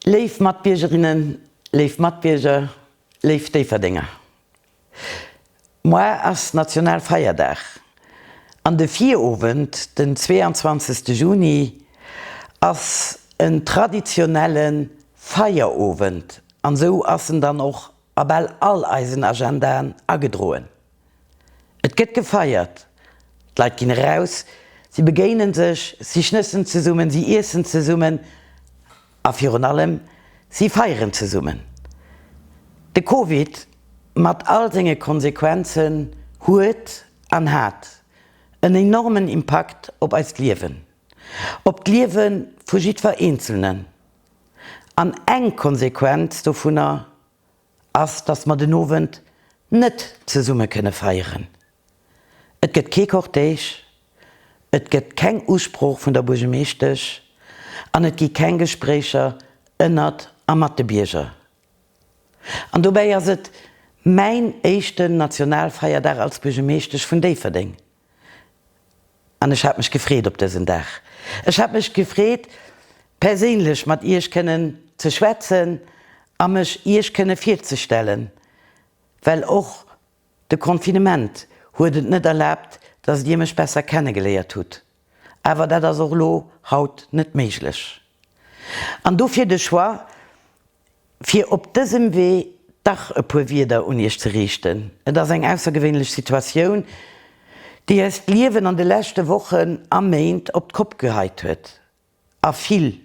Léif Matbiergerinnen, léif Matbierger, léif Déifferdenger, Moar ass Nationalfeierdag an de Virowend, den 22 Juni, ass en traditionelle Feierowend an esou ass en dann och a bal all eisen Agendaen agedroen. Et gëtt gefeiert, d'Leit ginn eraus, si begéine sech, si schnëssen zesummen, si iessen zesummen a virun allem, si feieren zesummen. De Covid mat all senge Konsequenzen huet an hat en enormen Impakt op eist Liewen, op d'Liewe vu jiddwer Eenzelnen. An eng Konsequenz dovunner ass, dass mer den Owend net zesumme kënne feieren. Et gëtt kee Cortège, et gëtt keng Usprooch vun der Buergemeeschtesch an et gi keng Gespréicher ënnert a mat de Bierger. An dobäi ass et mäin éischten Nationalfeierdag als Buergemeeschtesch vun Déifferdeng. An ech hat mech gefreet op dësen Dag. Ech hat mech gefreet, perséinlech mat Iech kënnen ze schwätzen a mech Iech kënne virzestellen, well och de Confinement huet et net erlaabt, dass Dir mech besser kennegeléiert hutt. Awer dat ass och elo haut net méiglech. An dofir de Choix, fir op dësem Wee dach e puer Wieder un Iech ze riichten. Et ass eng aussergewéinlech Situatioun, déi eist Liewen an de leschte Wochen a Méint op d'Kopp geheit huet a vill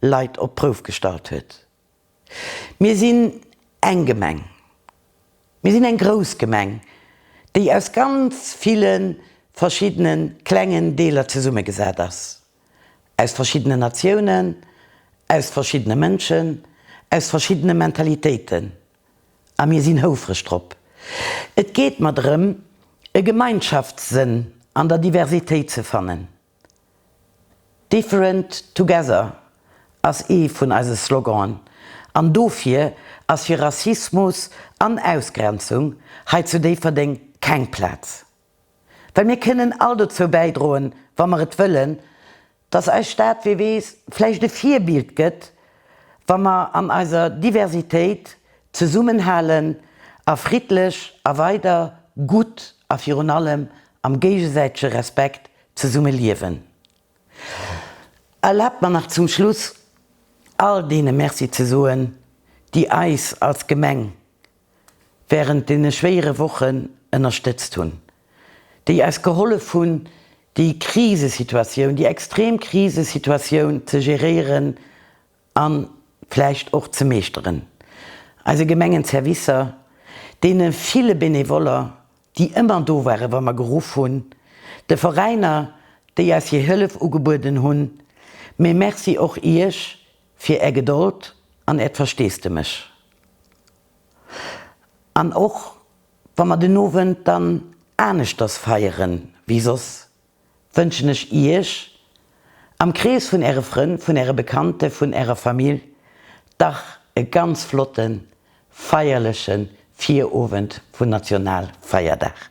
Leit op d'Prouf gestallt huet. Mir sinn eng Gemeng, mir sinn eng grouss Gemeng, déi aus ganz ville verschiddene klengen Deeler zesummegesat ass. aus verschiddenen Natiounen, aus verschiddene Mënschen, aus verschiddene Mentalitéiten. A mir sinn houfreg drop. Et geet mer drëm, e Gemeinschaftssënn an der Diversitéit ze fannen. Different together ass ee vun eise Sloganen, an dofir ass fir Rassismus an Ausgrenzung hei zu Déifferdeng keng Plaz. Well mir kënnen all dozou bäidroen, wa mer et wëllen, dass eis Stad, wee weess, vläicht e Virbild gëtt, wa mer an eiser Diversitéit zesummenhalen a friddlech a weider gutt a virun allem am géigesäitege Respekt zesumme liewen. Erlaabt mer nach zum Schluss all deene Merci ze soen, déi eis als Gemeng während deene schwéiere Wochen ënnerstëtzt hunn, déi eis gehollef hunn, déi Krisesituatioun, déi extrem Krisesituatioun ze geréieren a vläicht och ze meeschteren, eise Gemengen, Servicer, deene ville Benevoller, déi ëmmer do waren, wa mer geruff hunn, de Veräiner, déi eis hir Hëllef ugebueden hunn, mee Merci och Iech, Fir Är Gedold an Äert Versteesdemech. An och wa mer den Owend dann aneschters feiere wéi soss, wënschen ech Iech, am Krees vun Äre Frënn, vun Äre Bekannte, vun Ärer Famill, dach e ganz flotte feierleche Virowend vun Nationalfeierdag.